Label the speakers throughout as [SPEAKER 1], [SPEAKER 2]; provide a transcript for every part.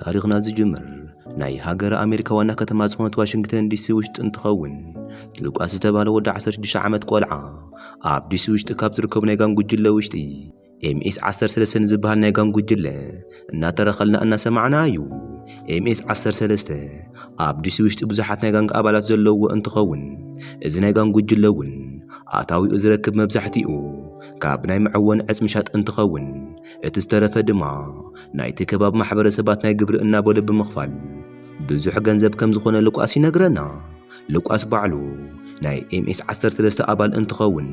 [SPEAKER 1] ታሪኽና ዝጅምር ናይ ሃገረ ኣሜሪካ ዋና ከተማ ዝኾነት ዋሽንግተን ዲሲ ውሽጢ እንትኸውን ሉቃስ ዝተባህለ ወዲ 16 ዓመት ቆልዓ ኣብ ዲሲ ውሽጢ ካብ ዝርከቡ ናይ ጋን ጉጅለ ውሽጢ ኤምኤስ 13 ንዝበሃል ናይ ጋን ጉጅለ እናተረኸልና እናሰማዕና እዩ። ኤምኤስ 13 ኣብ ዲሲ ውሽጢ ብዙሓት ናይ ጋንግ ኣባላት ዘለዎ እንትኸውን እዚ ናይ ጋን ጉጅለ እውን ኣታዊኡ ዝረክብ መብዛሕትኡ ካብ ናይ መዕወኒ ዕፅ ምሻጥ እንትኸውን እቲ ዝተረፈ ድማ ናይቲ ከባቢ ማሕበረሰባት ናይ ግብሪ እናበሉ ብምኽፋል ብዙሕ ገንዘብ ከም ዝኾነ ልቋስ ይነግረና። ልቋስ ባዕሉ ናይ ኤምኤስ 13 ኣባል እንትኸውን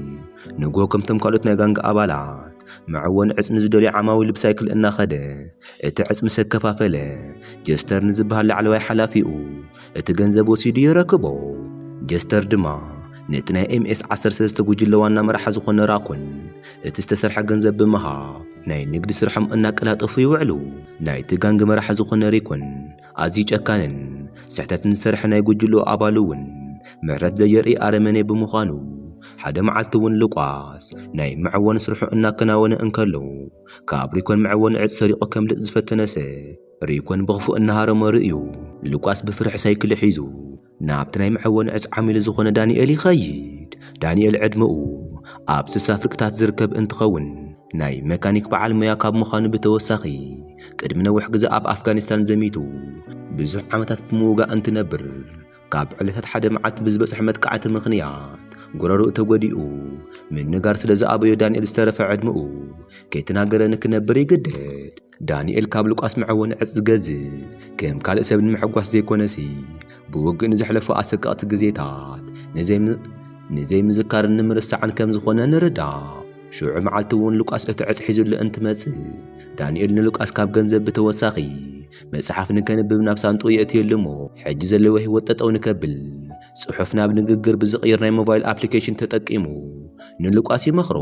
[SPEAKER 1] ንግሆ ከምቶም ካልኦት ናይ ጋንጋ ኣባላት መዕወኒ ዕፅ ንዝደልዩ ዓማዊል ብሳይክል እናኸደ እቲ ዕፅ ምስ ኣከፋፈለ ጀስተር ንዝበሃል ላዕለዋይ ሓላፊኡ እቲ ገንዘብ ወሲዱ የረክቦ። ጀስተር ድማ ነቲ ናይ ኤምኤስ ዓሰርተ ሰለስተ ጉጅለ ዋና መራሒ ዝኾነ ራኮን እቲ ዝተሰርሐ ገንዘብ ብምሃብ ናይ ንግዲ ስርሖም እናቀላጠፉ ይውዕሉ። ናይቲ ጋንግ መራሒ ዝኾነ ሪኮን ኣዝዩ ጨካንን ስሕተት ንዝሰርሐ ናይ ጉጅልኡ ኣባል እውን ምሕረት ዘየርእይ ኣረመኔ ብምዃኑ ሓደ መዓልቲ እውን ሉቃስ ናይ መዐወኒ ስርሑ እናከናወነ እንከሎ ካብ ሪኮን መዐወኒ ዕፅ ሰሪቑ ከምልጥ ዝፈተነ ሰብ ሪኮን ብኽፉእ እናሃረሞ ርእዩ ሉቃስ ብፍርሒ ሳይክሉ ሒዙ ናብቲ ናይ መዐወኒ ዕፅ ዓሚሉ ዝኾነ ዳንኤል ይኸይድ። ዳንኤል ዕድመኡ ኣብ ስሳ ፍርቂታት ዝርከብ እንትኸውን ናይ መካኒክ በዓል ሞያ ካብ ምዃኑ ብተወሳኺ ቅድሚ ነዊሕ ግዘ ኣብ ኣፍጋኒስታን ዘሚቱ ብዙሕ ዓመታት ብምውጋእ እንትነብር ካብ ዕለታት ሓደ መዓልቲ ብዝበፅሖ መጥቃዕቲ ምኽንያት ጉረርኡ ተጎዲኡ ምንጋር ስለዝኣበዮ ዳንኤል ዝተረፈ ዕድመኡ ከይተናገረ ንክነብር ይግደድ። ዳንኤል ካብ ሉቃስ መዐወኒ ዕፅ ዝገዝእ ከም ካልእ ሰብ ንምሕጓስ ዘይኮነሲ ብውግእ ንዘሕለፎ ኣሰቀቕቲ ግዜታት ንዘይምዝካርን ንምርሳዕን ከም ዝኾነ ንርዳእ። ሽዑ መዓልቲ እውን ሉቃስ እቲ ዕፅ ሒዙሉ እንትመፅእ ዳንኤል ንሉቃስ ካብ ገንዘብ ብተወሳኺ መፅሓፍ ንከንብብ ናብ ሳንጥኡ የእትየሉ እሞ ሕጂ ዘለዎ ህይወት ጠጠው ንከብል ፅሑፍ ናብ ንግግር ብዝቕይር ናይ ሞባይል ኣፕሊኬሽን ተጠቂሙ ንሉቃስ ይመኽሮ።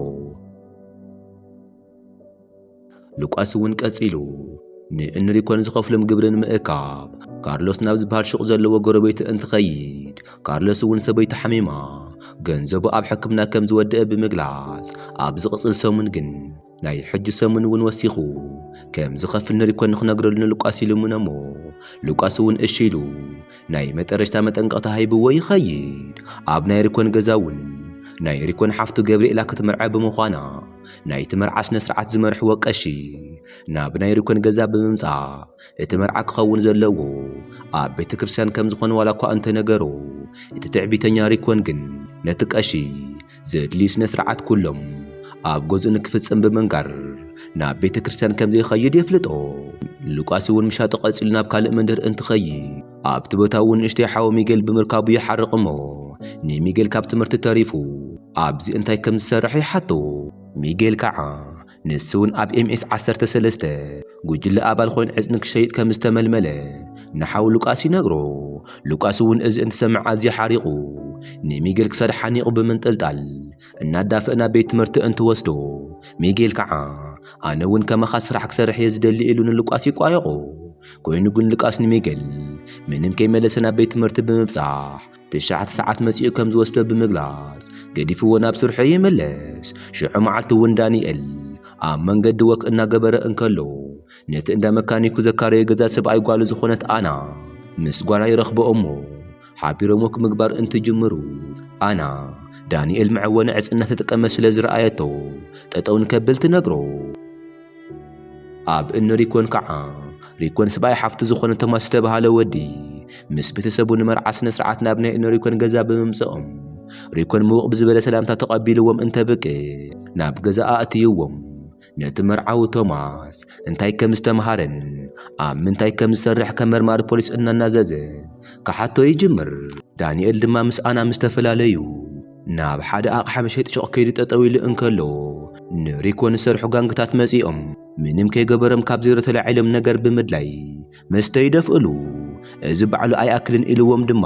[SPEAKER 1] ሉቃስ እውን ቀጺሉ ንእንሪኮን ዝኸፍሎም ግብሪ ንምእካብ ካርሎስ ናብ ዝበሃል ሹቕ ዘለዎ ጎረቤቱ እንትኸይድ ካርሎስ እውን ሰበይቱ ሓሚማ ገንዘቡ ኣብ ሕክምና ከም ዝወደአ ብምግላጽ ኣብ ዝቕጽል ሰሙን ግን ናይ ሕጂ ሰሙን እውን ወሲኹ ከም ዝኸፍል ንሪኮን ንኽነግረሉ ንሉቃስ ይልምኖ እሞ ሉቃስ እውን እሺ ኢሉ ናይ መጠረሽታ መጠንቀቕታ ሂብዎ ይኸይድ ኣብ ናይ ሪኮን ገዛ እውን ናይ ሪኮን ሓፍቱ ገብርኤላ ክትምርዐ ብምዃና ናይቲ መርዓ ስነ ስርዓት ዝመርሕዎ ቀሺ ናብ ናይ ሪኮን ገዛ ብምምጻእ እቲ መርዓ ክኸውን ዘለዎ ኣብ ቤተ ክርስቲያን ከም ዝኾነ ዋላ እኳ እንተነገሮ እቲ ትዕቢተኛ ሪኮን ግን ነቲ ቀሺ ዘድልዩ ስነ ስርዓት ኩሎም ኣብ ገዝኡ ንክፍጽም ብምንጋር ናብ ቤተ ክርስቲያን ከም ዘይኸይድ የፍልጦ። ሉቃስ እውን ምሻጡ ቀጺሉ ናብ ካልእ መንደር እንትኸይድ ኣብቲ ቦታ እውን ንእሽተይ ሓው ሚጌል ብምርካቡ ይሓርቕ እሞ ንሚጌል ካብ ትምህርቲ ተሪፉ ኣብዚ እንታይ ከም ዝሰርሕ ይሓቶ። ሚጌል ከኣ ንሱውን ኣብ ኤምኤስ ዓሰርተ ሰለስተ ጉጅለ ኣባል ኮይኑ ዕጽኒ ክሸይጥ ከም ዝተመልመለ ንሓው ሉቃስ ይነግሮ። ሉቃስውን እዚ እንትሰምዕ ኣዝዩ ሓሪቑ ንሚጌል ክሳዱ ሓኒቑ ብምንጥልጣል እናዳፍእ ናብ ቤት ትምህርቲ እንትወስዶ ሚጌል ከኣ ኣነውን ከማኻ ስራሕ ክሰርሕ እየ ዝደሊ ኢሉ ንሉቃስ ይቋየቖ። ኮይኑ ግን ሉቃስ ንሚጌል ምንም ከይመለሰ ናብ ቤት ትምህርቲ ብምብጻሕ ትሽዓተ ሰዓት መጺኡ ከም ዝወስዶ ብምግላጽ ገዲፍዎ ናብ ስርሑ ይምለስ። ሽዑ መዓልቲ እውን ዳንኤል ኣብ መንገዲ ወክ እናገበረ እንከሎ ነቲ እንዳ መካኒኩ ዘካረዮ ገዛ ሰብኣይ ጓሉ ዝኾነት ኣና ምስ ጓላ ይረኽቦ እሞ ሓቢሮም ወክ ምግባር እንትጅምሩ ኣና ዳንኤል መዕወኒ ዕጽ እናተጠቀመ ስለ ዝረኣየቶ ጠጠው ንከብል ትነግሮ። ኣብ እኒ ሪኮን ከዓ ሪኮን ስብኣይ ሓፍቱ ዝኾነ ቶማስ ዝተብሃለ ወዲ ምስ ቤተሰቡ ንመርዓ ስነ ስርዓት ናብ ናይ እነ ሪኮን ገዛ ብምምፅኦም ሪኮን ምውቕ ብዝበለ ሰላምታ ተቐቢልዎም እንተብቅዕ ናብ ገዛ ኣእትይዎም ነቲ መርዓዊ ቶማስ እንታይ ከም ዝተምሃረን ኣብ ምንታይ ከም ዝሰርሕ ከም መርማሪ ፖሊስ እናናዘዘ ክሓቶ ይጅምር። ዳንኤል ድማ ምስ ኣና ምስ ተፈላለዩ ናብ ሓደ ኣቕሓ መሸጢ ሹቕ ከይዱ ጠጠው ኢሉ እንከሎ ንሪኮ ንሰርሑ ጋንግታት መጺኦም ምንም ከይገበሮም ካብ ዜሮ ተላዒሎም ነገር ብምድላይ መስተ ይደፍእሉ። እዚ ባዕሉ ኣይኣክልን ኢልዎም ድማ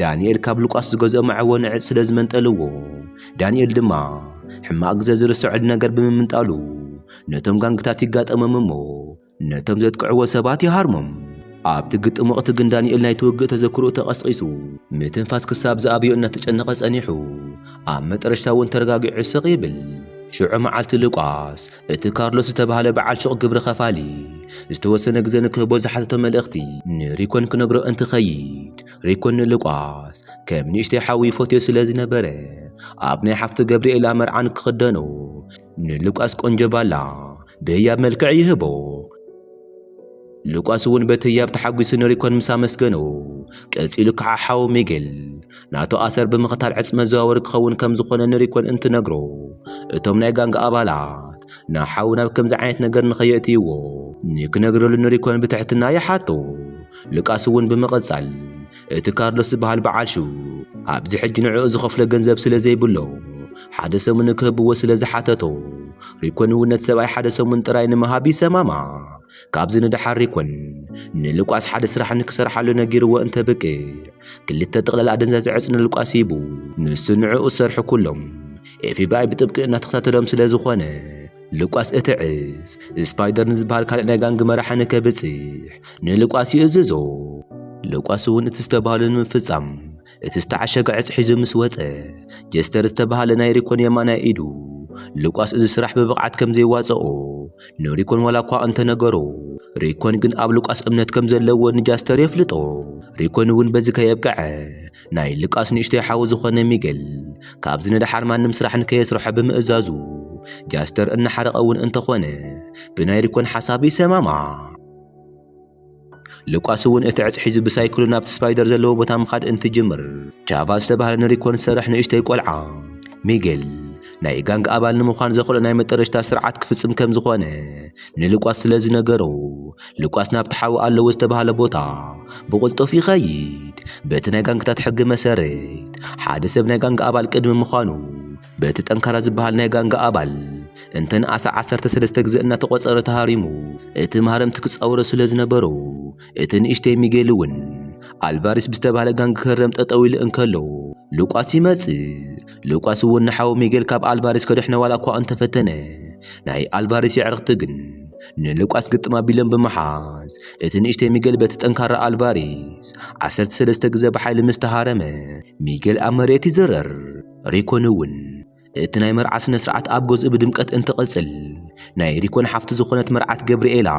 [SPEAKER 1] ዳንኤል ካብ ሉቃስ ዝገዝኦ መዐወኒ ዕፅ ስለ ዝመንጠልዎ ዳንኤል ድማ ሕማቕ ግዘ ዝርሰዐሉ ነገር ብምምንጣሉ ነቶም ጋንግታት ይጋጠሞም እሞ ነቶም ዘጥቅዕዎ ሰባት ይሃርሞም። ኣብቲ ግጥም ወቕቲ ግን ዳንኤል ናይቲ ውግእ ተዘክሮኡ ተቐስቒሱ ምትንፋስ ክሳብ ዝኣብዮ እናተጨነቐ ጸኒሑ ኣብ መጠረሽታ እውን ተረጋጊዑ ስቕ ይብል። ሽዑ መዓልቲ ሉቃስ እቲ ካርሎስ ዝተባህለ በዓል ሹቕ ግብሪ ኸፋሊ ዝተወሰነ ግዘ ንክህቦ ዝሓተቶ መልእኽቲ ንሪኮን ክነግሮ እንትኸይድ ሪኮን ንሉቃስ ከም ንእሽተይ ሓዉ ይፈትዮ ስለ ዝነበረ ኣብ ናይ ሓፍቱ ገብሪኤላ መርዓ ንክኽደኖ ንሉቃስ ቆንጆ ባላ ብህያብ መልክዕ ይህቦ። ሉቃስ እውን በቲ ህያብ ተሓጒሱ ንሪኮን ምስ ኣመስገኖ፣ ቀጺሉ ከኣ ሓው ሚጌል ናቱ ኣሰር ብምኽታል ዕጽ መዘዋወሪ ክኸውን ከም ዝኾነ ንሪኮን እንትነግሮ፣ እቶም ናይ ጋንግ ኣባላት ንሓዉ ናብ ከምዚ ዓይነት ነገር ንኸየእትይዎ ንክነግረሉ ንሪኮን ብትሕትና ይሓቶ። ሉቃስ እውን ብምቕጻል እቲ ካርሎስ ዝበሃል በዓል ሹቕ ኣብዚ ሕጂ ንዕኡ ዝኸፍሎ ገንዘብ ስለ ዘይብሎ ሓደ ሰሙን ክህብዎ ስለ ዝሓተቶ ሪኮን እውን ነቲ ሰብኣይ ሓደ ሰሙን ጥራይ ንምሃብ ይሰማማዕ። ካብዚ ንደሓር ሪኮን ንሉቃስ ሓደ ስራሕ ንክሰርሓሉ ነጊርዎ እንተብቅዕ ክልተ ጥቕላል ኣደንዛዘ ዕፅ ንሉቃስ ሂቡ ንሱ ንዕኡ ዝሰርሑ ኩሎም ኤፍቢኣይ ብጥብቂ እናተኸታተሎም ስለ ዝኾነ ሉቃስ እቲ ዕስ፣ ስፓይደር ንዝበሃል ካልእ ናይ ጋንግ መራሒ ንከብጽሕ ንሉቃስ ይእዝዞ። ሉቃስ እውን እቲ ዝተባህሎ ንምፍጻም እቲ ዝተዓሸገ ዕጽ ሒዙ ምስ ወጸ፣ ጀስተር ዝተባህለ ናይ ሪኮን የማናይ ኢዱ፣ ሉቃስ እዚ ስራሕ ብብቕዓት ከም ዘይዋጽኦ ንሪኮን ዋላ እኳ እንተ ነገሮ፣ ሪኮን ግን ኣብ ሉቃስ እምነት ከም ዘለዎ ንጃስተር የፍልጦ። ሪኮን እውን በዚ ከየብቅዐ፣ ናይ ልቃስ ንእሽተይ ሓው ዝኾነ ሚገል ካብዚ ንደሓር ማንም ስራሕ ንከየስርሖ ብምእዛዙ ጃስተር እናሓረቐ እውን እንተኾነ ብናይ ሪኮን ሓሳብ ይሰማማዕ። ልቋስ እውን እቲ ዕፅ ሒዙ ብሳይክሉ ናብቲ ስፓይደር ዘለዎ ቦታ ምኻድ እንትጅምር ቻቫ ዝተባህለ ንሪኮን ዝሰርሕ ንእሽተይ ቆልዓ ሚገል ናይ ጋንግ ኣባል ንምዃን ዘኽእሎ ናይ መጠረሽታ ስርዓት ክፍፅም ከም ዝኾነ ንልቋስ ስለ ዝነገሮ ሉቃስ ናብቲ ሓዊ ኣለዎ ዝተባህለ ቦታ ብቕልጡፍ ይኸይድ። በቲ ናይ ጋንግታት ሕጊ መሰረት፣ ሓደ ሰብ ናይ ጋንጋ ኣባል ቅድሚ ምዃኑ፣ በቲ ጠንካራ ዝበሃል ናይ ጋንጋ ኣባል እንተ ንኣሰ ዓሰርተ ሰለስተ ግዘ እናተቖጸረ ተሃሪሙ፣ እቲ ማህረምቲ ክጻወሮ ስለ ዝነበሮ፣ እቲ ንእሽተይ ሚጌል እውን ኣልቫሪስ ብዝተባህለ ጋንግ ክህረም ጠጠው ኢሉ እንከሎ ሉቃስ ይመጽእ። ሉቃስ እውን ንሓው ሚጌል ካብ ኣልቫሬስ ከድሕኖ ዋላ እኳ እንተፈተነ ናይ ኣልቫሬስ የዕርኽቲ ግን ንሉቃስ ግጥም ኣቢሎም ብምሓዝ እቲ ንእሽተይ ሚጌል በቲ ጠንካራ ኣልቫሬስ ዓሰርተ ሰለስተ ግዘ ብሓይሊ ምስ ተሃረመ ሚጌል ኣብ መሬት ይዝረር። ሪኮን እውን እቲ ናይ መርዓ ስነ ስርዓት ኣብ ገዝኡ ብድምቀት እንትቕጽል ናይ ሪኮን ሓፍቲ ዝኾነት መርዓት ገብርኤላ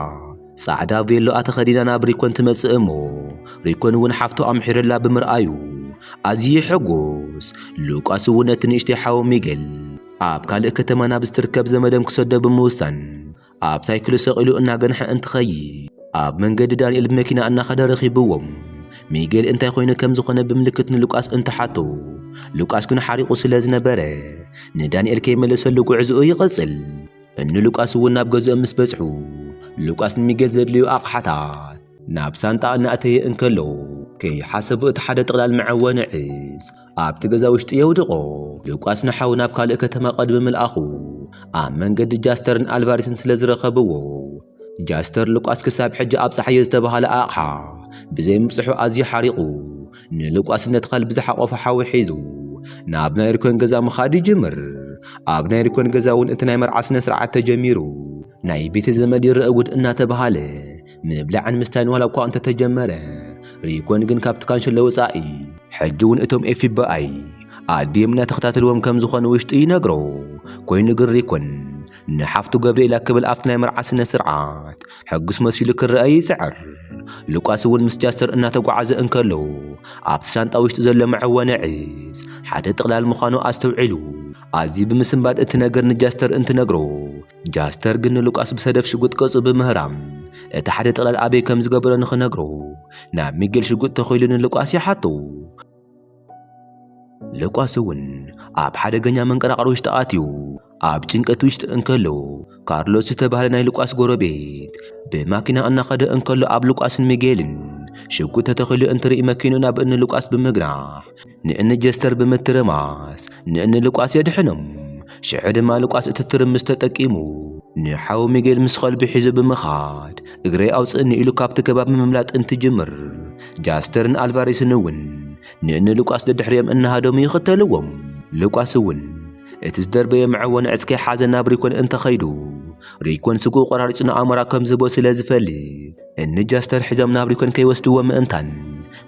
[SPEAKER 1] ጻዕዳ ቬሎኣ ተኸዲና ናብ ሪኮን ትመጽእ እሞ ሪኮን እውን ሓፍቱ ኣምሒሩላ ብምርኣዩ ኣዝዩ ይሕጉስ። ሉቃስ እውን ነቲ ንእሽተይ ሓዉ ሚገል ኣብ ካልእ ከተማ ናብ ዝትርከብ ዘመዶም ክሰዶ ብምውሳን ኣብ ሳይክሉ ሰቒሉ እናገንሐ እንትኸይድ ኣብ መንገዲ ዳንኤል ብመኪና እናኸደ ረኺብዎም። ሚገል እንታይ ኮይኑ ከም ዝኾነ ብምልክት ንሉቃስ እንትሓቶ ሉቃስ ግን ሓሪቑ ስለ ዝነበረ ንዳንኤል ከይመለሰሉ ጉዕዝኡ ይቕጽል። እኒ ሉቃስ እውን ናብ ገዝኦም ምስ በጽሑ ሉቃስ ንሚጌል ዘድልዩ ኣቕሓታት ናብ ሳንጣ እናእተየ እንከሎ ከይሓሰቡ እቲ ሓደ ጥቕላል መዐወኒ ዕስ ኣብቲ ገዛ ውሽጢ የውድቖ። ሉቃስ ንሓው ናብ ካልእ ከተማ ቅድሚ ምልኣኹ ኣብ መንገዲ ጃስተርን ኣልቫሪስን ስለ ዝረኸብዎ ጃስተር ሉቃስ ክሳብ ሕጂ ኣብጽሓዮ ዝተባህለ ኣቕሓ ብዘይምብጽሑ ኣዝዩ ሓሪቑ ንልቋስነት ኸልቢ ዝሓቖፈ ሓዊ ሒዙ ናብ ናይ ሪኮን ገዛ ምኻድ ይጅምር። ኣብ ናይ ሪኮን ገዛ እውን እቲ ናይ መርዓ ስነ ስርዓት ተጀሚሩ ናይ ቤተ ዘመድ ይረአ ጉድ እናተባህለ ምብላዕን ምስታይን ዋላ እኳ እንተተጀመረ ሪኮን ግን ካብቲ ካንሸሎ ወፃኢ ሕጂ እውን እቶም ኤፍቢኣይ ኣድዮም እናተኸታተልዎም ከም ዝኾኑ ውሽጡ ይነግሮ። ኮይኑ ግን ሪኮን ንሓፍቱ ገብርኤላ ክብል ኣብቲ ናይ መርዓ ስነ ስርዓት ሕጉስ መሲሉ ክረኣይ ይጽዕር። ሉቃስ እውን ምስ ጃስተር እናተጓዓዘ እንከሎ ኣብቲ ሳንጣ ውሽጢ ዘሎ መዐወኒ ዕጽ ሓደ ጥቕላል ምዃኑ ኣስተውዒሉ ኣዝዩ ብምስንባድ እቲ ነገር ንጃስተር እንትነግሮ ጃስተር ግን ንሉቃስ ብሰደፍ ሽጉጥ ቅርጹ ብምህራም እቲ ሓደ ጥቕላል ኣበይ ከም ዝገበሮ ንኽነግሮ ናብ ሚጌል ሽጉጥ ተኺሉ ንሉቃስ ይሓቶ። ሉቃስ እውን ኣብ ሓደገኛ መንቀራቕሮ ውሽጢ ኣትዩ ኣብ ጭንቀት ውሽጢ እንከሎ ካርሎስ ዝተባህለ ናይ ሉቃስ ጎረቤት ብማኪና እናኸደ እንከሎ ኣብ ሉቃስን ሚጌልን ሽጉጥ ተተኺሉ እንትርኢ መኪኑ ናብ እኒ ሉቃስ ብምግናሕ ንእኒ ጀስተር ብምትርማስ ንእኒ ሉቃስ የድሕኖም። ሽዑ ድማ ልቋስ እቲ ትርምስ ተጠቂሙ ንሓው ሚጌል ምስ ኸልቢ ሒዙ ብምኻድ እግረይ ኣውፅእኒ ኢሉ ካብቲ ከባቢ ምምላጥ እንትጅምር ጃስተርን ኣልቫሬስን እውን ንእኒ ልቋስ ደድሕሪኦም እናሃደሙ ይኽተልዎም። ልቋስ እውን እቲ ዝደርበየ መዐወኒ ዕፅ ከይሓዘ ናብ ሪኮን እንተኸይዱ ሪኮን ስግኡ ቆራሪፁ ንኣሞራ ከም ዝህቦ ስለ ዝፈልጥ እኒ ጃስተር ሒዞም ናብ ሪኮን ከይወስድዎ ምእንታን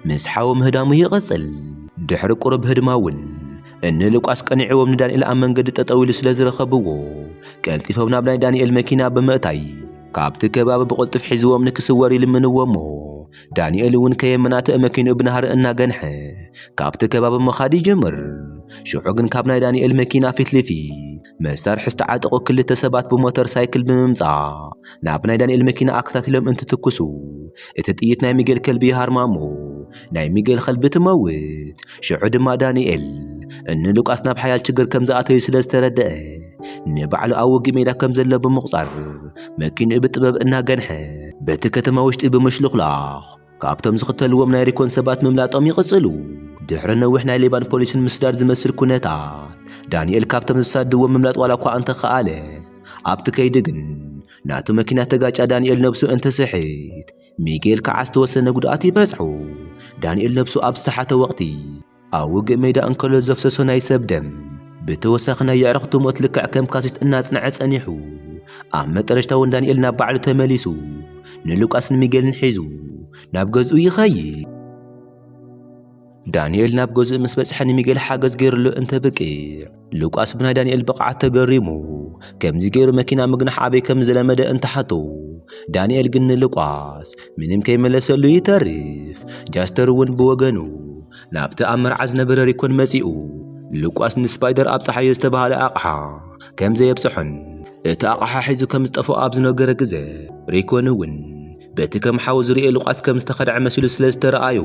[SPEAKER 1] ምስ ሓው ምህዳሙ ይቕፅል። ድሕሪ ቁሩብ ህድማ እውን እኒ ሉቃስ ቀኒዕዎም ንዳንኤል ኣብ መንገዲ ጠጠው ኢሉ ስለ ዝረኸብዎ ቀልጢፎም ናብ ናይ ዳንኤል መኪና ብምእታይ ካብቲ ከባቢ ብቕልጡፍ ሒዝዎም ንክስወር ይልምንዎ እሞ ዳንኤል እውን ከየመናትእ መኪንኡ ብናህሪ እናገንሐ ካብቲ ከባቢ ምኻድ ይጅምር። ሽዑ ግን ካብ ናይ ዳንኤል መኪና ፊት ልፊት መሳርሒ ዝተዓጠቑ ክልተ ሰባት ብሞተር ሳይክል ብምምጻእ ናብ ናይ ዳንኤል መኪና ኣከታቲሎም እንትትኩሱ እቲ ጥይት ናይ ሚጌል ከልቢ ይሃርማሞ ናይ ሚጌል ከልቢ ትመውት ሽዑ ድማ ዳንኤል እኒ ሉቃስ ናብ ሓያል ችግር ከም ዝኣተዩ ስለ ዝተረደአ ንባዕሉ ኣብ ውግእ ሜዳ ከም ዘሎ ብምቑጻር መኪንኡ ብጥበብ እናገንሐ በቲ ከተማ ውሽጢ ብምሽልኹላኽ ካብቶም ዝኽተልዎም ናይ ሪኮን ሰባት ምምላጦም ይቕጽሉ። ድሕሪ ነዊሕ ናይ ሌባን ፖሊስን ምስዳድ ዝመስል ኩነታት፣ ዳንኤል ካብቶም ዝሳድድዎም ምምላጥ ዋላኳ እንተኸኣለ፣ ኣብቲ ከይዲ ግን ናቱ መኪና ተጋጫ ዳንኤል ነብሱ እንትስሕት፣ ሚጌል ከዓ ዝተወሰነ ጉድኣት ይበጽሖ። ዳንኤል ነብሱ ኣብ ዝሰሓተ ወቕቲ፣ ኣብ ውግእ ሜዳ እንከሎ ዘፍሰሶ ናይ ሰብ ደም ብተወሳኺ ናይ የዕርኽቱ ሞት ልክዕ ከም ካሴት እናጽንዐ ጸኒሑ ኣብ መጠረሽታ ውን ዳንኤል ናብ ባዕሉ ተመሊሱ ንሉቃስን ሚጌልን ሒዙ ናብ ገዝኡ ይኸይድ። ዳንኤል ናብ ገዝኡ ምስ በጽሐ ንሚጌል ሓገዝ ገይሩሉ እንተብቅዕ ሉቃስ ብናይ ዳንኤል ብቕዓት ተገሪሙ ከምዚ ገይሩ መኪና ምግናሕ ኣበይ ከም ዝለመደ እንተሓቶ ዳንኤል ግን ንሉቃስ ምንም ከይመለሰሉ ይተርፍ። ጃስተር እውን ብወገኑ ናብቲ ኣብ መርዓ ዝነበረ ሪኮን መጺኡ ሉቃስ ንስፓይደር ኣብ ጸሓዮ ዝተባህለ ኣቕሓ ከም ዘየብጽሖን እቲ ኣቕሓ ሒዙ ከም ዝጠፍኦ ኣብ ዝነገረ ግዘ ሪኮን እውን በቲ ከም ሓው ዝርኤ ሉቃስ ከም ዝተኸድዐ መሲሉ ስለ ዝተረኣዮ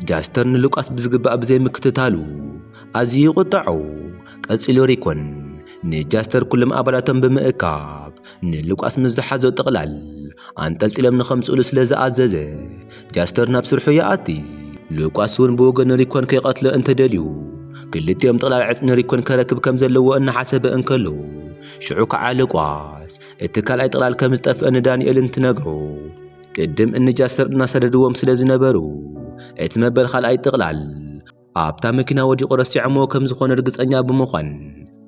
[SPEAKER 1] ጃስተር ንሉቃስ ብዝግባእ ብዘይምክትታሉ ኣዝዩ ይቝጠዖ። ቀጺሉ ሪኮን ንጃስተር ኵሎም ኣባላቶም ብምእካብ ንሉቃስ ምስ ዝሓዞ ጥቕላል ኣንጠልጢሎም ንኸምጽእሉ ስለ ዝኣዘዘ፣ ጃስተር ናብ ስርሑ ይኣቲ። ሉቃስ እውን ብወገኑ ሪኮን ከይቀትሎ እንተ ደልዩ፣ ክልቲኦም ጥቕላል ዕጽ ንሪኮን ከረክብ ከም ዘለዎ እናሓሰበ እንከሎ፣ ሽዑ ከኣ ሉቃስ እቲ ካልኣይ ጥቕላል ከም ዝጠፍአ ንዳንኤል እንትነግሮ፣ ቅድም እንጃስር እናሰደድዎም ስለ ዝነበሩ እቲ መበል ካልኣይ ጥቕላል ኣብታ መኪና ወዲቑ ረሲዖሞ ከም ዝኾነ እርግጸኛ ብምዃን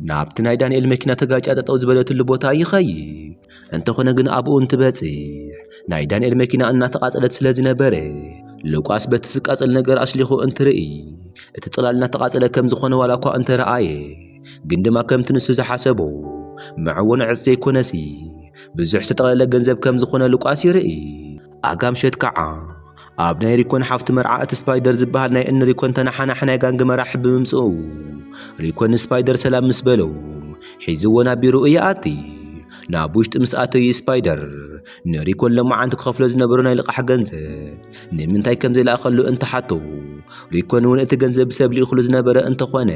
[SPEAKER 1] ናብቲ ናይ ዳንኤል መኪና ተጋጭያ ጠጠው ዝበለትሉ ቦታ ይኸይድ። እንተኾነ ግን ኣብኡ እንትበጽሕ ናይ ዳንኤል መኪና እናተቓጸለት ስለ ዝነበረ ሉቃስ በቲ ዝቃጸል ነገር ኣሽሊኹ እንትርኢ እቲ ጥቕላል እናተቓጸለ ከም ዝኾነ ዋላ እኳ እንተረኣየ ግን ድማ ከምቲ ንሱ ዝሓሰቦ መዕወኒ ዕፅ ዘይኮነሲ ብዙሕ ዝተጠቕለለ ገንዘብ ከም ዝኾነ ሉቃስ ይርኢ። ኣጋምሸት ከዓ ኣብ ናይ ሪኮን ሓፍቱ መርዓ እቲ ስፓይደር ዝበሃል ናይ እኒ ሪኮን ተነሓናሒ ናይ ጋንግ መራሒ ብምምፅኡ ሪኮን ንስፓይደር ሰላም ምስ በሎ ሒዝዎ ናብ ቢሮኡ ይኣቲ። ናብ ውሽጢ ምስ ኣተዩ ስፓይደር ንሪኮን ሎማዓንቲ ክኸፍሎ ዝነበሮ ናይ ልቓሕ ገንዘብ ንምንታይ ከም ዘይለኣኸሉ እንተሓቶ ሪኮን እውን እቲ ገንዘብ ብሰብ ልኢኹሉ ዝነበረ እንተኾነ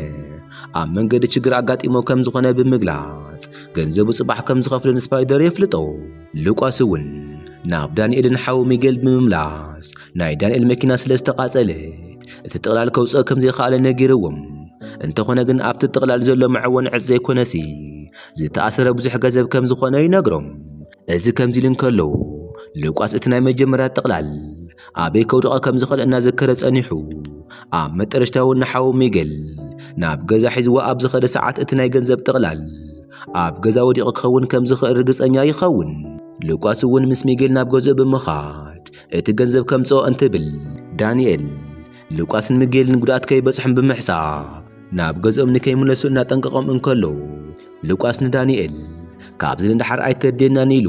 [SPEAKER 1] ኣብ መንገዲ ችግር ኣጋጢሞ ከም ዝኾነ ብምግላጽ ገንዘቡ ጽባሕ ከም ዝኸፍሎ ንስፓይደር የፍልጦ። ሉቃስ እውን ናብ ዳንኤልን ሓው ሚጌል ብምምላስ ናይ ዳንኤል መኪና ስለ ዝተቓጸለት እቲ ጥቕላል ከውጽኦ ከም ዘይኸኣለ ነጊርዎም እንተኾነ ግን ኣብቲ ጥቕላል ዘሎ መዐወኒ ዕጽ ዘይኮነሲ ዝተኣሰረ ብዙሕ ገንዘብ ከም ዝኾነ ይነግሮም። እዚ ከምዚ ኢሉ እንከሎ ሉቃስ እቲ ናይ መጀመርያ ጥቕላል ኣበይ ከውድቐ ከም ዝኽእል እናዘከረ ጸኒሑ ኣብ መጠረሽታ እውን ንሓዉ ሚገል ናብ ገዛ ሒዝዎ ኣብ ዝኸደ ሰዓት እቲ ናይ ገንዘብ ጥቕላል ኣብ ገዛ ወዲቑ ክኸውን ከም ዝኽእል ርግጸኛ ይኸውን። ሉቃስ እውን ምስ ሚጌል ናብ ገዝኡ ብምኻድ እቲ ገንዘብ ከምጽኦ እንትብል ዳንኤል ሉቃስን ሚጌልን ጉድኣት ከይበጽሖም ብምሕሳብ ናብ ገዝኦም ንከይምለሱ እናጠንቀቖም እንከሎ ሉቃስ ንዳንኤል ካብዚ ንደሓር ኣይከድየናን ኢሉ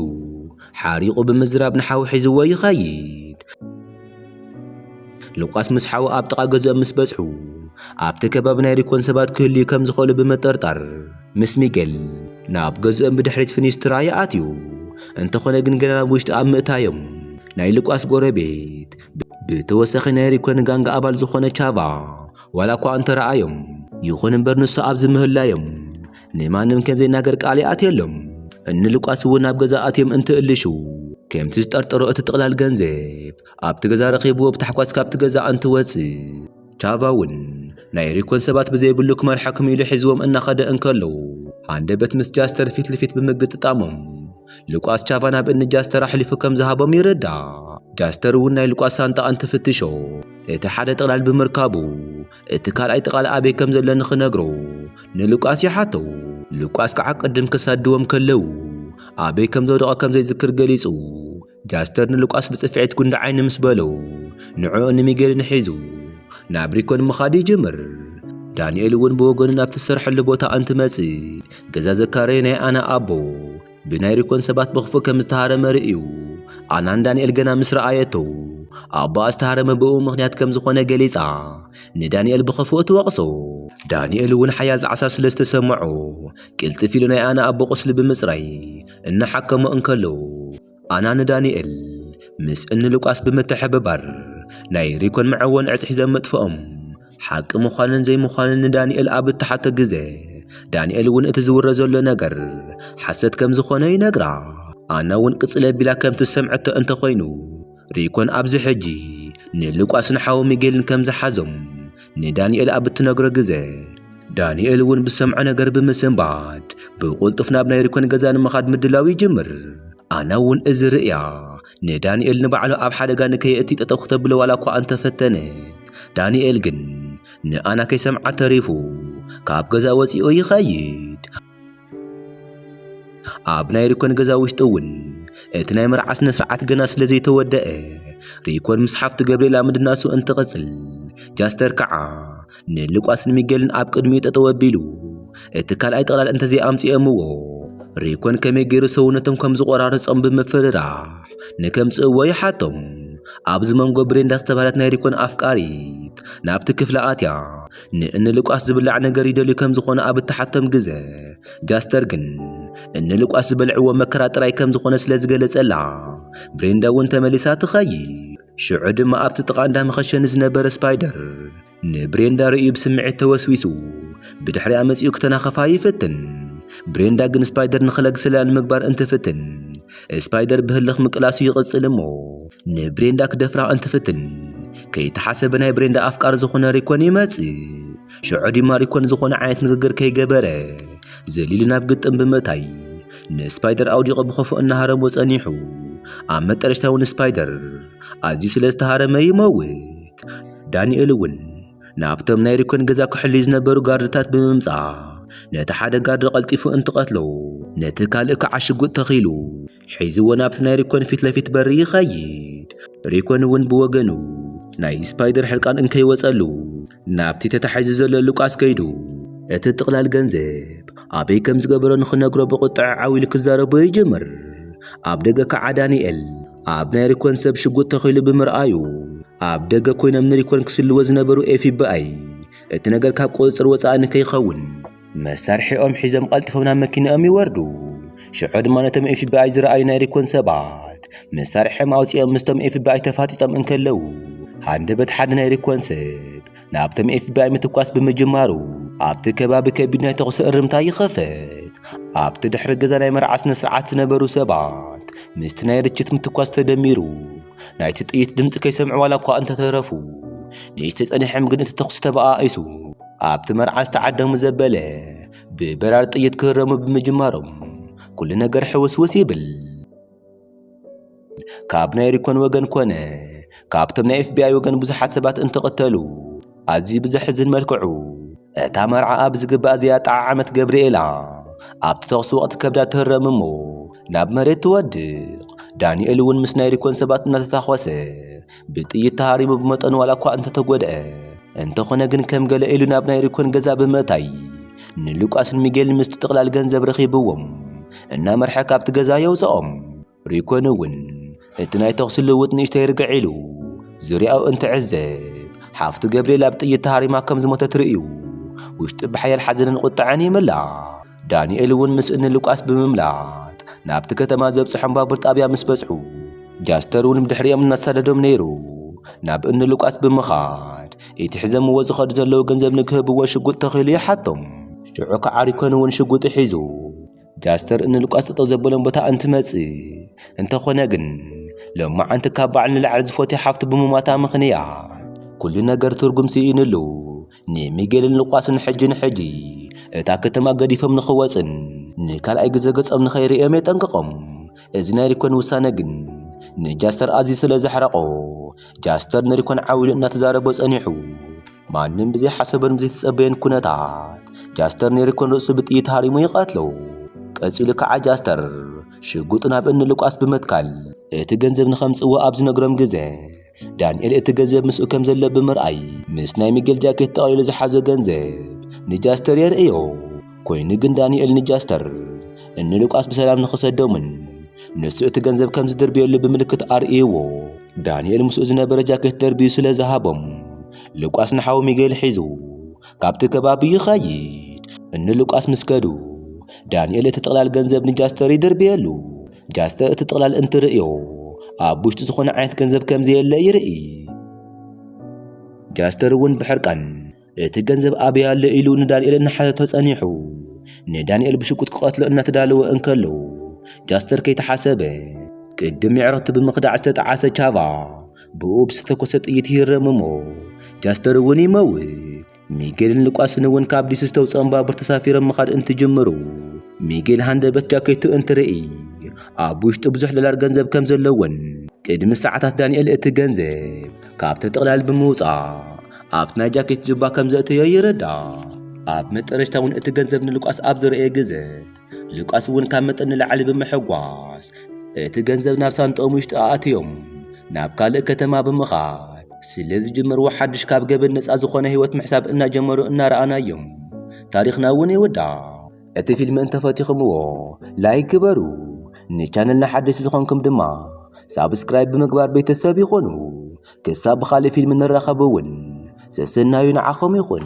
[SPEAKER 1] ሓሪቑ ብምዝራብ ንሓው ሒዝዎ ይኸይድ። ሉቃስ ምስ ሓው ኣብ ጥቓ ገዝኦም ምስ በጽሑ ኣብቲ ከባቢ ናይ ሪኮን ሰባት ክህልዩ ከም ዝኽእሉ ብምጥርጣር ምስ ሚጌል ናብ ገዝኦም ብድሕሪት ፊኒስትራ ይኣትዩ። እንተኾነ ግን ገና ናብ ውሽጢ ኣብ ምእታዮም ናይ ሉቃስ ጎረቤት ብተወሳኺ ናይ ሪኮን ጋንግ ኣባል ዝኾነ ቻቫ ዋላ እኳ እንተረኣዮም ይኹን እምበር ንሱ ኣብ ዝምህላዮም ንማንም ከም ዘይናገር ቃል ይኣትየሎም እኒ ልቋስ እውን ናብ ገዛ ኣትዮም እንትእልሹ ከምቲ ዝጠርጠሮ እቲ ጥቕላል ገንዘብ ኣብቲ ገዛ ረኺብዎ ብታሕጓስ ካብቲ ገዛ እንትወጽእ ቻቫ እውን ናይ ሪኮን ሰባት ብዘይብሉ ክመርሓኩም ኢሉ ሒዝዎም እናኸደ እንከሎ ሃንደበት ምስ ጃስተር ፊት ንፊት ብምግጥጣሞም ሉቃስ ቻቫ ናብ እኒ ጃስተር ኣሕሊፉ ከም ዝሃቦም ይርዳእ። ጃስተር እውን ናይ ሉቃስ ሳንጣ እንትፍትሾ እቲ ሓደ ጥቕላል ብምርካቡ እቲ ካልኣይ ጥቕላል ኣበይ ከም ዘሎ ንኽነግሮ ንሉቃስ ይሓቶ። ሉቃስ ከዓ ቅድም ክሳድዎም ከለው ኣበይ ከም ዘውደቐ ከም ዘይዝክር ገሊጹ ጋስተር ንሉቃስ ብጽፍዒት ጉንዲ ዓይኒ ምስ በሎ ንዕኡን ንሚጌልን ሒዙ ናብ ሪኮን ምኻድ ይጅምር። ዳንኤል እውን ብወገኑ ናብቲ ዝሰርሐሉ ቦታ እንትመጽእ ገዛ ዘካረየ ናይ ኣና ኣቦ ብናይ ሪኮን ሰባት ብኽፉእ ከም ዝተሃረመ ርእዩ ኣና ንዳንኤል ገና ምስ ረኣየቶ ኣቦኣ ዝተሃረመ ብእኡ ምኽንያት ከም ዝኾነ ገሊጻ ንዳንኤል ብኽፉእ ትወቕሶ። ዳንኤል እውን ሓያል ጣዕሳ ስለ ዝተሰምዖ ቅልጥፍ ኢሉ ናይ ኣና ኣቦ ቁስሊ ብምጽራይ እናሓከሙ እንከለዉ ኣና ንዳንኤል ምስ እንሉቃስ ብምትሕብባር ናይ ሪኮን መዐወን ዕፅ ሒዘም ምጥፍኦም ሓቂ ምዃንን ዘይምዃንን ንዳንኤል ኣብ እተሓቶ ግዘ ዳንኤል እውን እቲ ዝውረ ዘሎ ነገር ሓሰት ከም ዝኾነ ይነግራ። ኣና እውን ቅፅል ኣቢላ ከም ትሰምዐቶ እንተኾይኑ ሪኮን ኣብዚ ሕጂ ንሉቃስን ሓዉ ሚጌልን ከም ዝሓዞም ንዳንኤል ኣብ እትነግሮ ግዘ ዳንኤል እውን ብሰምዖ ነገር ብምስንባት ብቁልጡፍ ናብ ናይ ሪኮን ገዛ ንምኻድ ምድላው ይጅምር ኣና እውን እዚ ርእያ ንዳንኤል ንባዕሉ ኣብ ሓደጋ ንከየእቲ ጠጠው ክተብሎ ዋላ እኳ እንተፈተነ ዳንኤል ግን ንኣና ከይሰምዓ ተሪፉ ካብ ገዛ ወፂኡ ይኸይድ ኣብ ናይ ሪኮን ገዛ ውሽጢ እውን እቲ ናይ መርዓ ስነ ስርዓት ገና ስለ ዘይተወደአ ሪኮን ምስ ሓፍቱ ገብርኤላ ምድናሱ እንትቕጽል ጃስተር ከዓ ንሉቃስን ሚጌልን ኣብ ቅድሚኡ ጠጠው ኣቢሉ እቲ ካልኣይ ጥቕላል እንተዘይ ኣምጺኦምዎ ሪኮን ከመይ ገይሩ ሰውነቶም ከም ዝቖራርጾም ብምፍርራሕ ንከምጽእዎ ይሓቶም ኣብዚ መንጎ ብሬንዳ ዝተባህለት ናይ ሪኮን ኣፍቃሪት ናብቲ ክፍሊ ኣትያ ንእንሉቃስ ዝብላዕ ነገር ይደልዩ ከም ዝኾነ ኣብ እተሓቶም ግዘ፣ ጋስተር ግን እንሉቃስ ዝበልዕዎ መከራ ጥራይ ከም ዝኾነ ስለ ዝገለጸላ፣ ብሬንዳ እውን ተመሊሳ ትኸይድ። ሽዑ ድማ ኣብቲ ጥቓ እንዳ መኸሸኒ ዝነበረ ስፓይደር ንብሬንዳ ርእዩ ብስምዒት ተወስዊሱ ብድሕሪኣ መጺኡ ክተናኸፋ ይፍትን። ብሬንዳ ግን ስፓይደር ንኽለግሰላ ንምግባር እንትፍትን ስፓይደር ብህልኽ ምቅላሱ ይቕጽል እሞ ንብሬንዳ ክደፍራ እንትፍትን ከይተሓሰበ ናይ ብሬንዳ ኣፍቃሪ ዝኾነ ሪኮን ይመጽእ ሽዑ ድማ ሪኮን ዝኾነ ዓይነት ንግግር ከይገበረ ዘሊሉ ናብ ግጥም ብምእታይ ንስፓይደር ኣውዲቖ ብኸፉ እናሃረሞ ጸኒሑ ኣብ መጠረሽታ እውን ስፓይደር ኣዝዩ ስለ ዝተሃረመ ይመውት ዳንኤል እውን ናብቶም ናይ ሪኮን ገዛ ክሕልዩ ዝነበሩ ጋርድታት ብምምጻእ ነቲ ሓደ ጋርድ ቐልጢፉ እንትቐትሎ ነቲ ካልእ ከዓ ሽጉጥ ተኺሉ ሒዝዎ ናብቲ ናይ ሪኮን ፊት ለፊት በሪ ይኸይድ ሪኮን እውን ብወገኑ ናይ ስፓይደር ሕርቃን እንከይወጸሉ ናብቲ ተታሒዙ ዘሎ ሉቃስ ከይዱ እቲ ጥቕላል ገንዘብ ኣበይ ከም ዝገበሮ ንኽነግሮ ብቑጥዐ ዓው ኢሉ ክዛረቦ ይጅምር ኣብ ደገ ከዓ ዳንኤል ኣብ ናይ ሪኮን ሰብ ሽጉጥ ተኺሉ ብምርኣዩ ኣብ ደገ ኮይኖም ንሪኮን ክስልዎ ዝነበሩ ኤፍቢኣይ እቲ ነገር ካብ ቁፅፅር ወፃኢ ንከይኸውን መሳርሒኦም ሒዞም ቀልጢፎም ናብ መኪናኦም ይወርዱ ሽዑ ድማ ነቶም ኤፍቢኣይ ዝረኣዩ ናይ ሪኮን ሰባት መሳርሒኦም ኣውፂኦም ምስቶም ኤፍቢኣይ ተፋጢጦም እንከለዉ ሃንደበት ሓደ ናይ ሪኮን ሰብ ናብቶም ኤፍቢኣይ ምትኳስ ብምጅማሩ ኣብቲ ከባቢ ከቢድ ናይ ተኹሲ እርምታ ይኸፈት። ኣብቲ ድሕሪ ገዛ ናይ መርዓ ስነ ስርዓት ዝነበሩ ሰባት ምስቲ ናይ ርችት ምትኳስ ተደሚሩ ናይቲ ጥይት ድምፂ ከይሰምዑ ዋላ እኳ እንተተረፉ ንእሽተ ጸኒሖም ግን እቲ ተኹሲ ተበኣኢሱ ኣብቲ መርዓ ዝተዓደሙ ዘበለ ብበራሪ ጥይት ክህረሙ ብምጅማሮም ኩሉ ነገር ሕውስውስ ይብል። ካብ ናይ ሪኮን ወገን ኮነ ካብቶም ናይ ኤፍቢኣይ ወገን ብዙሓት ሰባት እንትቕተሉ ኣዝዩ ብዘሕዝን መልክዑ እታ መርዓ ኣብ ዝግባእ ዘያጠዓዓመት ገብርኤላ ኣብቲ ተኹሲ ወቕቲ ከብዳ ትህረም እሞ ናብ መሬት ትወድቕ ዳንኤል እውን ምስ ናይ ሪኮን ሰባት እናተታኾሰ ብጥይት ተሃሪሙ ብመጠኑ ዋላ እኳ እንተተጎድኣ እንተኾነ ግን ከም ገለ ኢሉ ናብ ናይ ሪኮን ገዛ ብምእታይ ንሉቃስን ሚጌልን ምስቲ ጥቕላል ገንዘብ ረኺብዎም እናመርሐ ካብቲ ገዛ የውፅኦም። ሪኮን እውን እቲ ናይ ተኹሲ ልውውጥ ንእሽተይ ርግዕ ኢሉ ዙርያኡ እንትዕዘብ ሓፍቱ ገብርኤላ ብጥይት ተሃሪማ ከም ዝሞተት ርእዩ ውሽጡ ብሓያል ሓዘንን ቁጥዐን ይምላእ። ዳንኤል እውን ምስ እኒ ሉቃስ ብምምላጥ ናብቲ ከተማ ዘብጽሖም ባቡር ጣብያ ምስ በጽሑ ጃስተር እውን ብድሕሪኦም እናሳደዶም ነይሩ ናብ እኒ ሉቃስ ብምኻድ እቲ ሒዘምዎ ዝኸዱ ዘለዉ ገንዘብ ንክህብዎ ሽጉጥ ተኺሉ ይሓቶም ሽዑ ከዓ ሪኮን እውን ሽጉጡ ሒዙ ጃስተር እኒ ሉቃስ ጠጠው ዘበሎም ቦታ እንትመጽእ እንተኾነ ግን ሎማዓንቲ ካብ በዓል ንላዕሊ ዝፎትያ ሓፍቱ ብምሟታ ምኽንያት ኩሉ ነገር ትርጉም ስኢንሉ ንሚጌልን ሉቃስን ሕጂ ንሕጂ እታ ከተማ ገዲፎም ንኽወጽን ንካልኣይ ግዜ ገጾም ንኸይርእዮም የጠንቅቖም። እዚ ናይ ሪኮን ውሳነ ግን ንጃስተር ኣዝዩ ስለ ዘሕረቖ ጃስተር ንሪኮን ዓው ኢሉ እናተዛረቦ ጸኒሑ። ማንም ብዘይሓሰበን ብዘይተጸበየን ኩነታት ጃስተር ንሪኮን ርእሱ ብጥይት ሃሪሙ ይቐትሎ። ቀጺሉ ከዓ ጃስተር ሽጉጡ ናብ እኒ ሉቃስ ብምትካል እቲ ገንዘብ ንኸምጽእዎ ኣብ ዝነግሮም ግዜ ዳንኤል እቲ ገንዘብ ምስኡ ከም ዘሎ ብምርኣይ ምስ ናይ ሚጌል ጃኬት ጠቕሊሉ ዝሓዞ ገንዘብ ንጃስተር የርእዮ። ኮይኑ ግን ዳንኤል ንጃስተር እኒ ሉቃስ ብሰላም ንኽሰዶምን ንሱ እቲ ገንዘብ ከም ዝድርብየሉ ብምልክት ኣርእይዎ። ዳንኤል ምስኡ ዝነበረ ጃኬት ደርብዩ ስለ ዝሃቦም ሉቃስ ንሓው ሚጌል ሒዙ ካብቲ ከባቢ ይኸይድ። እኒ ሉቃስ ምስ ከዱ ዳንኤል እቲ ጥቕላል ገንዘብ ንጃስተር ይድርብየሉ። ጃስት እቲ ጥቕላል እንትርእዮ ኣብ ውሽጢ ዝኾነ ዓይነት ገንዘብ ከም ዘየለ ይርኢ። ጃስተር እውን ብሕርቃን እቲ ገንዘብ ኣበይ ኣሎ ኢሉ ንዳንኤል እናሓተቶ ጸኒሑ ንዳንኤል ብሽጉጥ ክቐትሎ እናተዳለወ እንከሎ ጃስተር ከይተሓሰበ ቅድም ምዕረቱ ብምኽዳዕ ዝተጠዓሰ ቻቫ ብኡ ብዝተተኮሰ ጥይት ይህረም እሞ ጃስተር እውን ይመውት። ሚጌልን ሉቃስን እውን ካብ ዲሲ ዝተውፅኦም ባቡር ተሳፊሮም ምኻድ እንትጅምሩ ሚጌል ሃንደበት ጃኬቱ እንትርኢ ኣብ ውሽጡ ብዙሕ ዶላር ገንዘብ ከም ዘለዎን ቅድሚ ሰዓታት ዳንኤል እቲ ገንዘብ ካብቲ ጥቕላል ብምውፃእ ኣብቲ ናይ ጃኬት ጁባ ከም ዘእተዮ ይርዳእ። ኣብ መጠረሽታ እውን እቲ ገንዘብ ንሉቃስ ኣብ ዝረእየ ግዘ ሉቃስ እውን ካብ መጠን ንላዕሊ ብምሕጓስ እቲ ገንዘብ ናብ ሳንጦኦም ውሽጢ ኣእትዮም ናብ ካልእ ከተማ ብምኻድ ስለ ዝጀመርዎ ሓድሽ ካብ ገበን ነፃ ዝኾነ ህይወት ምሕሳብ እናጀመሩ እናረኣናዮም ታሪኽና እውን ይውዳእ። እቲ ፊልም እንተፈቲኽምዎ ላይክ ግበሩ፣ ንቻነልና ሓደስቲ ዝኾንኩም ድማ ሳብስክራይብ ብምግባር ቤተሰብ ይኹኑ። ክሳብ ብኻልእ ፊልም ንራኸብ እውን ሰሰናዩ ንዓኹም ይኹን።